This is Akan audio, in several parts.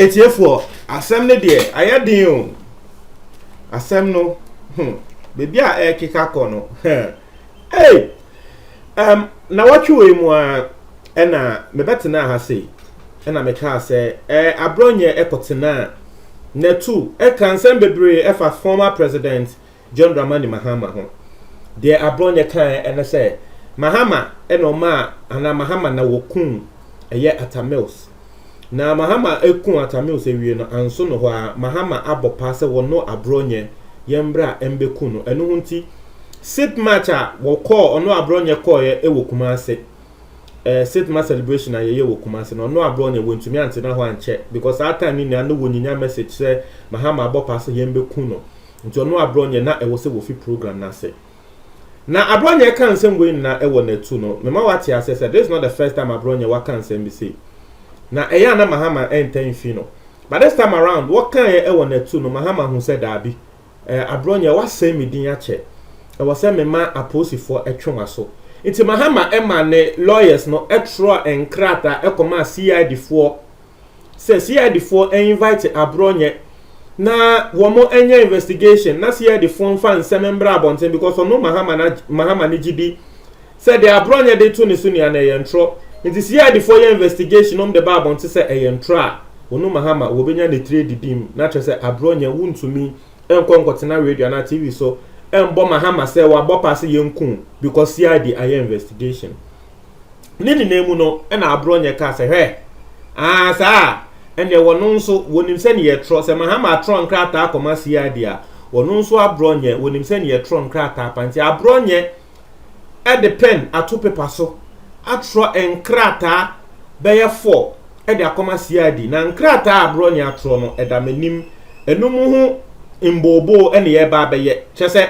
ɛtiefoɔ asɛm no deɛ ayɛ den o asɛm no hmm, baabi a ɛrekeka kɔ no hmm. Ei! Um, nawɔtwe wei mu a ɛna mebɛtenaa ha sei, ɛna mekaa sɛ, eh, aborɔ nyɛ ɛkɔtenaa Natu ɛka nsɛm bebree ɛfa former president John Dramani Mahama ho. Deɛ aborɔ nyɛ kaeɛ ɛne sɛ Mahama ɛna ɔmaa anaa Mahama na wɔkum ɛyɛ Atta Mills. Na Mahama eku Atamils ewie no, annso no hɔ ara, Mahama abɔ paa sɛ wɔno Aborɔnyɛ yɛ mbrɛ a mbeku no. Ɛno ho ntsi, Sip March a wɔkɔɔ, ɔno Aborɔnyɛ kɔɔeɛ wɔ Kumase, eh, Sip March celebration a yɛyɛɛ wɔ Kumase no, ɔno Aborɔnyɛ wɔnntumi anntsena hɔ annkyɛ because saa time no nyina no wɔnyinya message sɛ Mahama abɔ paa sɛ yɛmbeku no, ntsi ɔno Aborɔnyɛ na ɛwɔ sɛ wɔfi program no ase. Na Aborɔnyɛ ka nsɛm wei nyinaa wɔ n'atu no, mema wate aseɛ sɛ this is not the first time Aborɔnyɛ waka nsɛm bi sei. Na ɛyɛ a na Mahama ɛntɛ mfi no. But this time around, wɔkaeɛ wɔ n'atu no, Mahama hu sɛ daabi, eh, Aborɔnyɛ woasɛe me din akyɛ. Ɛwɔ sɛ mema apolisifoɔ twe w'aso. Nti Mahama ma ne lawyers no twerɛɛ nkrataa kɔmaa CID foɔ. sɛ CID foɔ invite aborɔ nyɛ na wɔn nyɛ investigation na CID foɔ nfa nsɛm mbra abɔnten because ɔno Mahama na Mahama ne gye di sɛ deɛ aborɔ nyɛ de to ne so nua na ɛyɛ ntorɔ nti CID foɔ yɛ investigation nom de ba abɔnten sɛ ɛyɛ ntorɔ a ɔno Mahama wɔbɛnya ne tire didi mu na kyerɛ sɛ aborɔ nyɛ wontumi nkɔ nkɔtena radio anaa TV so mbɔ Mahama sɛ wabɔ paa sɛ yɛnku because CID ayɛ investigation Ne nyinaa mu no, ɛna aborɔ nyɛ kaa sɛ, Hwɛ! Aa, saa a, ɛnneɛ wɔno nso, wɔnim sɛdeɛ yɛtwerɛ. Sɛ Mahama atwerɛ nkrataa kɔma CID a, wɔno nso aborɔ nyɛ, wɔnim sɛdeɛ yɛtwerɛ nkrataa pa. Nti aborɔ nyɛ de pɛn ato pepa so atwerɛ nkrataa bɛyɛ four de akɔma CID. Na nkrataa a aborɔ nyɛ atwerɛ no, ɛda m'anim. Ɛno mu ho mbooboo na yɛreba abɛyɛ. Kyerɛ sɛ,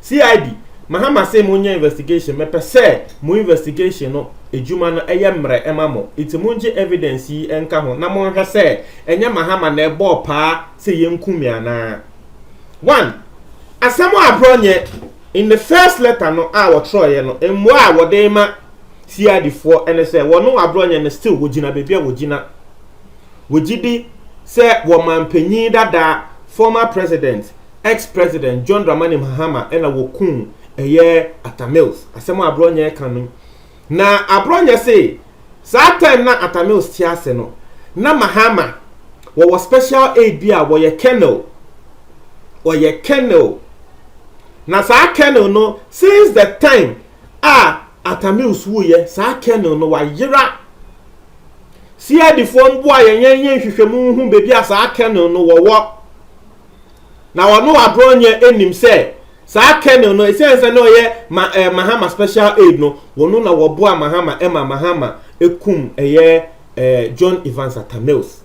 CID, Mahama se mo nyɛ investigation, mɛpɛ sɛ mo investigation no adwuma no yɛ mmerɛ ma mo, nti mo ngye evidence yi nka ho na mo nhwɛ sɛ ɛnyɛ Mahama na ɛbɔɔ paa sɛ yɛ nku me anaa. One, asɛm a aborɔ nyɛ, in the first letter no a wɔtwerɛeɛ no, mmoa a wɔde ma CID foɔ ne sɛ wɔno aborɔ nyɛ no still wɔgyina baabi a wɔgyina. Wɔgyidi sɛ wɔmanpanyin dadaa, former president, ex president John Dramani Mahama na wɔkuu ɛyɛ Atta Mills, asɛm a Aborɔnyɛ ka no. Na Aborɔnyɛ se saa time na Atta Mills te ase no, na Mahama wɔwɔ special aid bi a wɔyɛ Colonel, wɔyɛ Colonel. Na saa Colonel no, since the time a Atta Mills wuiɛ, saa Colonel no wayera. CID foɔ mboa yɛn yɛn yɛ nhwehwɛmu nhu baabi a saa Colonel no wɔwɔ. na wɔne wɔaborɔ nyɛ anim sɛ saa kernel no ɛsiane sɛ na ɔyɛ ma ɛɛ mahama special aid no wɔn na wɔboa mahama ɛma mahama ekum ɛyɛ ɛɛ john evans atamils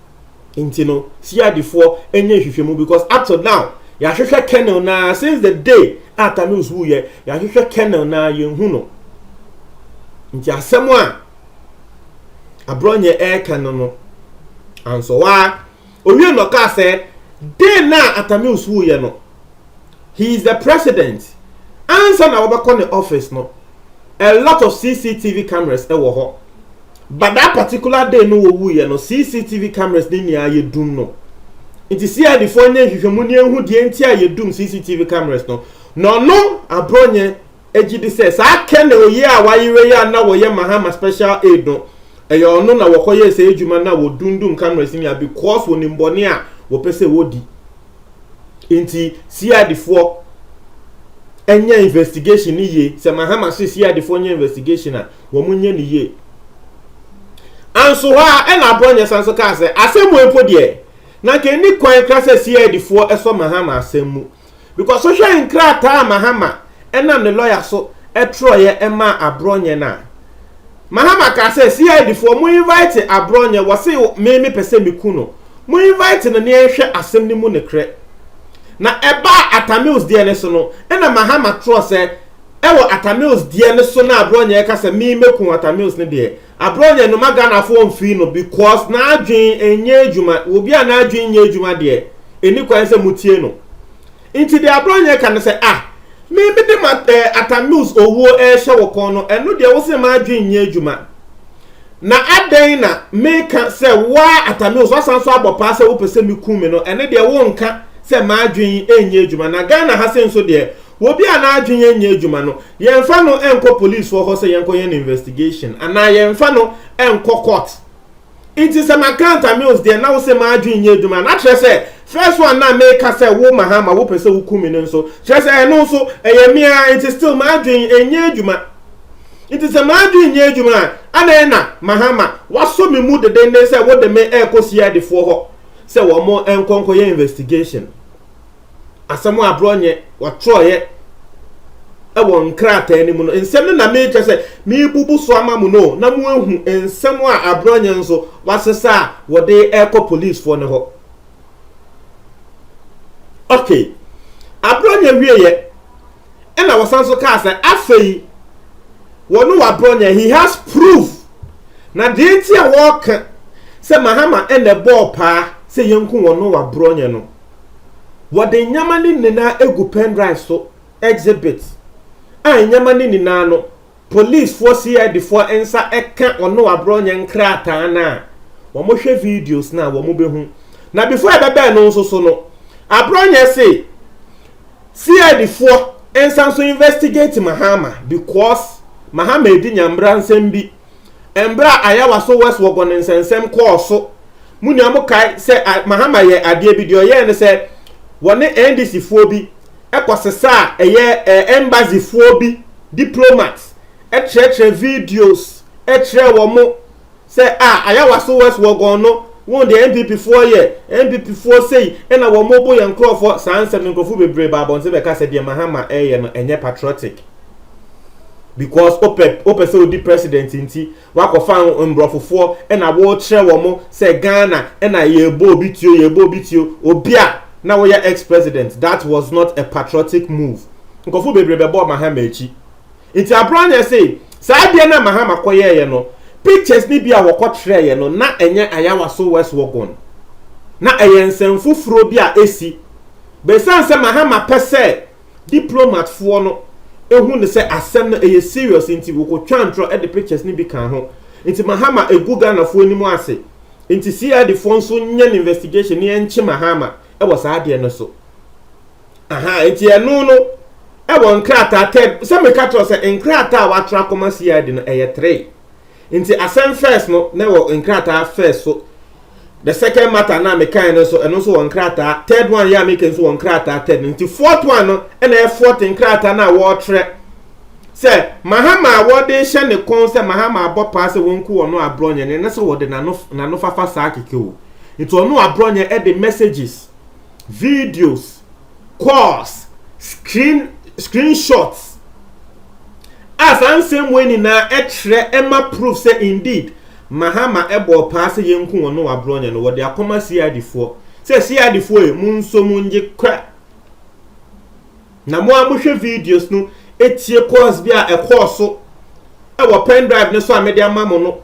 nti no siadifoɔ ɛnyɛ nhwehwɛmu because up to now yɛahwehwɛ kernel na since the day a tamils wuyɛ yɛahwehwɛ kernel na yɛnhu no nti asɛm a aborɔ nyɛ ɛɛka no no ansɔwaa Owiee no ɔkaa sɛ, Dɛn na Atta Mills wuiɛ no, he is the president, ansa na wɔbɛkɔ ne office no, a lot of CCTV cameras wɔ hɔ, but that particular day no wɔwuiɛ no, CCTV cameras no nyinaa yɛdum no. Nti CID foɔ nyɛ nhwehwɛmu ne ɛhu deɛ nti a yɛdum CCTV cameras no, na ɔno, Abronye, gye di sɛ saa Colonel yi a wayera yi a na wɔyɛ Mahama Special Aid no, ɛyɛ ɔno na wɔkɔyɛɛ saa adwuma no a wɔdundum cameras nyinaa because wɔnim bɔne a wɔpɛ sɛ wɔdi. Nti CID foɔ ɛnyɛ investigation no yie. Sɛ Mahama se CID foɔ nyɛ investigation a, wɔn nyɛ no yie. Anso hɔ a ɛna Aborɔnyɛ san so kaa sɛ asɛm wei mpo deɛ na nka ɛni kwan kra sɛ CID foɔ ɛsɔ Mahama asɛm mu. Because wohwɛ nkrataa a Mahama ɛnam ne lɔya so ɛtwerɛeɛ ɛmaa Aborɔnyɛ no a, Mahama kaa sɛ CID foɔ mo invite Aborɔnyɛ, wɔse me me pɛ sɛ me ku no, mo invite no ne ɛnhwɛ asɛm no mu nekorɛ. Na ɛbaa Atamils deɛ no so no, ɛna Mahama twerɛ sɛ ɛwɔ Atamils deɛ no so na Aborɔnyɛ ɛka sɛ me mɛku Atamils no deɛ, Abrɔ deɛ noma Ghanafoɔ mfiri no because n'adwen nyɛ adwuma, obi a n'adwen nyɛ adwuma deɛ ɛni kwan sɛ motie no. Nti deɛ abrɔ nyɛ ka no sɛ ah me mede ma eh, Atamils owuo ɛrehyɛ wo kɔn no ɛno deɛ wo se m'adwen nyɛ adwuma na adɛn na meka sɛ woa Atamils wasan nso abɔ paa sɛ wopɛ sɛ me ku me no ɛne deɛ wo nka sɛ m'adwen nyɛ adwuma na Ghana ha se nso deɛ obi a n'adwen nyɛ adwuma no Yɛnfa no nkɔ polisfoɔ hɔ sɛ yɛnkɔyɛ no investigation anaa yɛnfa no nkɔ court. Nti sɛ maka Anta Mills deɛ na wose m'adwene nyɛ adwuma na kyerɛ sɛ first one no a meka sɛ wo Mahama wopɛ sɛ woku me no nso kyerɛ sɛ ɛno nso ɛyɛ me ara nti still m'adwene nyɛ adwuma. Nti sɛ m'adwene nyɛ adwuma a adɛn na Mahama wasɔ me mu dedenden sɛ wode me rekɔ CIDfoɔ hɔ sɛ wɔn nkɔ nkɔyɛ investigation. asɛm a aborɔ nyɛ wɔtwerɛeɛ ɛwɔ nkrataa no mu no nsɛm no na meretwa sɛ mebubu so ama mu no na moahu nsɛm a aborɔ nyɛ nso wɔasesa a wɔde ɛrekɔ policefoɔ no hɔ okay aborɔ nyɛ wieɛ ɛna wɔsan so kaa sɛ afei wɔne waborɔ nyɛ he has proof na deɛ nti a wɔreka sɛ mahama ɛna ɛbɔɔ paa sɛ yɛnku wɔne waborɔ nyɛ no Wɔde nneɛma no nyinaa agu pendrive so, exhibit, a nneɛma no nyinaa no, polisfoɔ CID foɔ nsa ka ɔne waborɔ nyɛ nkrataa no a, wɔhwɛ videos no a, wɔbɛhu. Na before ɛbɛbɛɛ no nso so no, aborɔ nyɛ se CID foɔ nsa nso investigate Mahama because Mahama edi nyambra nsɛm bi. Mbrɛ a Ayawa so West wɔ bɔ ne nsɛnsɛm kɔɔ so mu nyinaa, mo kae sɛ Mahama yɛɛ adeɛ bi. Deɛ ɔyɛɛ ne sɛ, wɔ ne NDC foɔ bi kɔ sesaa ɛyɛ Embassy foɔ bi diplomats kyerɛkyerɛ videos kyerɛɛ wɔn sɛ ah Ayawa so West wɔ gɔn no, won deɛ NPP foɔ yɛ, NPP foɔ sei na wɔn bo yɛ nkorɔfoɔ. Saa nsɛm no nkorɔfoɔ bebree baa abɔnten bɛka sɛ deɛ Mahama ɛɛyɛ no ɛnyɛ patriotic. because wopɛ wopɛ sɛ odi president nti wakɔfa mborɔfofoɔ ɛna wɔrekyerɛ wɔn mo sɛ Ghana ɛna yɛbɔ obi tuo yɛbɔ obi tuo obi a na wɔyɛ ex president that was not a patriotic move nkɔfo bebree bɛbɔ Mahama akyi nti abranya se saa adeɛ na Mahama kɔyɛɛyɛ no pictures ni bi a wɔkɔkyerɛɛyɛ no na ɛnyɛ ayawa so West Wuogon na ɛyɛ nsɛm foforɔ bi a esi bɛsan sɛ Mahama pɛ sɛ Diplomatfoɔ no hu no sɛ asɛm no ɛyɛ serious nti wɔkɔtwaa ntorɔ de pictures no bi kaa ho. Nti Mahama ɛgu Ghanafoɔ anim ase. Nti CID foɔ nso nyɛ no investigation na yɛnkye Mahama wɔ saa adeɛ no so. Aha, nti ɛno no ɛwɔ nkrataa tɛ, sɛ meka kyerɛ sɛ nkrataa a wɔatra akɔma CID no ɛyɛ three. Nti asɛm first no na ɛwɔ nkrataa first so, the second matter no a mekae no nso, ɛno nso wɔ nkrataa, third one yi a meka nso wɔ nkrataa third no, nti fourth one no ɛna ɛyɛ fourth nkrataa no a wɔrekyerɛ sɛ Mahama a wɔde hyɛ ne kɔn sɛ Mahama abɔ paa sɛ wɔnku ɔno aborɔnyɛ no, ɛne sɛ wɔde n'ano n'ano fafa saa keke o. Nti ɔno aborɔnyɛ ɛde messages, videos, calls, screen screenshots a saa nsɛmmoa nyinaa ɛkyerɛ ɛma proof sɛ indeed Mahama ɛbɔɔ paa sɛ yɛnku wɔn no wabrɔnyɛ no wɔde akɔma CID foɔ sɛ CID foɔ e mo nso mo ngye kra na mo a mohwɛ videos no etie calls bi a ɛkɔɔ so ɛwɔ pen drive no so a mede ama mo no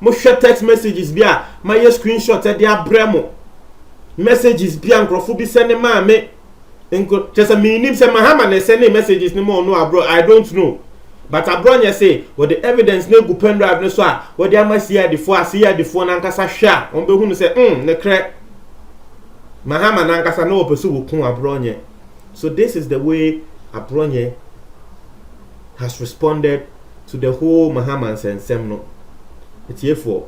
Mohwɛ text messages bi a mayɛ screenshot de abrɛ mo. Messages bi a nkurɔfo bi sɛne maa me. Nko kyerɛ sɛ mennim sɛ Mahama na ɛsɛne messages no ma ɔno abrɔ I don't know. But abrɔ nyɛ se wɔde evidence no agu pen drive no so a wɔde ama CID foɔ a CID foɔ no ankasa hwɛ a wɔbɛhu no sɛ mm nekrɛ Mahama no ankasa na wɔpɛ sɛ wɔku abrɔ nyɛ. So this is the way abrɔ nyɛ has responded to the whole Mahama nsɛnsɛm no atiefoɔ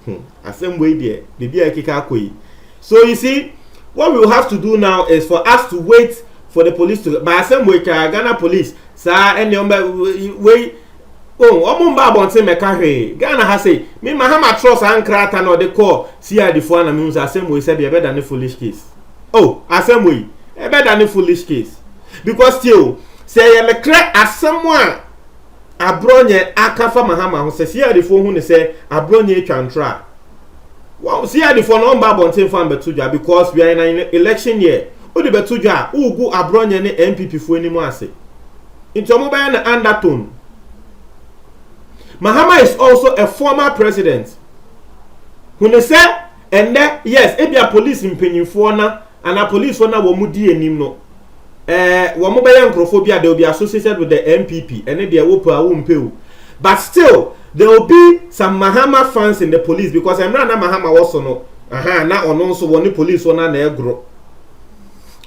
hmm asɛm wei deɛ biribi a ɛkeka akɔ yi so you see what we will have to do now is for us to wait for the police to ba asɛm wei kaa Ghana police saa ɛnneɛ ɔmba wei oh ɔmo mba abɔnten mɛka hwee Ghana ha sei me Mahama trɔ saa nkrata na ɔde kɔɔ CID foɔ na mehu sɛ asɛm wei sɛdeɛ ɛbɛda ne foolish case Oh asɛm wei ɛbɛda ne foolish case because tie o sɛ yɛ mekrɛ asɛm a aborɔnyɛ aka fa mahama ho sɛ siadifoɔ hu ne sɛ aborɔnyɛ atwa ntorɔ a wɔn siadifoɔ no ɔmba abɔnten fa mbɛto dwa because we are in an election year wode bɛto dwa a wogu aborɔnyɛ ne npp foɔ anim ase nti wɔn bɛyɛ no undertone mahama is also a former president hu ne sɛ Ɛnnɛ, yes, ebia polisi mpanyimfoɔ na, anaa polisifoɔ no a wɔdi anim no, eh, wɔbɛyɛ nkurɔfoɔ bi a they will be associated with the NPP, ɛne deɛ wopɛ a wompɛ o. But still, there will be some Mahama fans in the police because mmerɛ a na Mahama wɔ so no, aha, na ɔno nso wɔne polisifoɔ no na ɛgoro.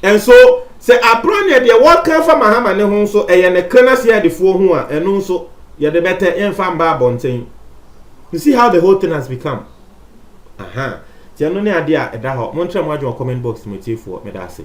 And so, sɛ abran yɛ deɛ wɔka fa Mahama ne ho nso, ɛyɛ ne kra na CIDfoɔ ho a, ɛno nso, yɛde bɛtɛ, yɛmfa mba abɔnten. You see how the whole thing has become? Ahaa nti ɛno ne adeɛ a ɛda hɔ. Monkyerɛ mo adwene wɔ comment box mu atiefoɔ. Meda ase.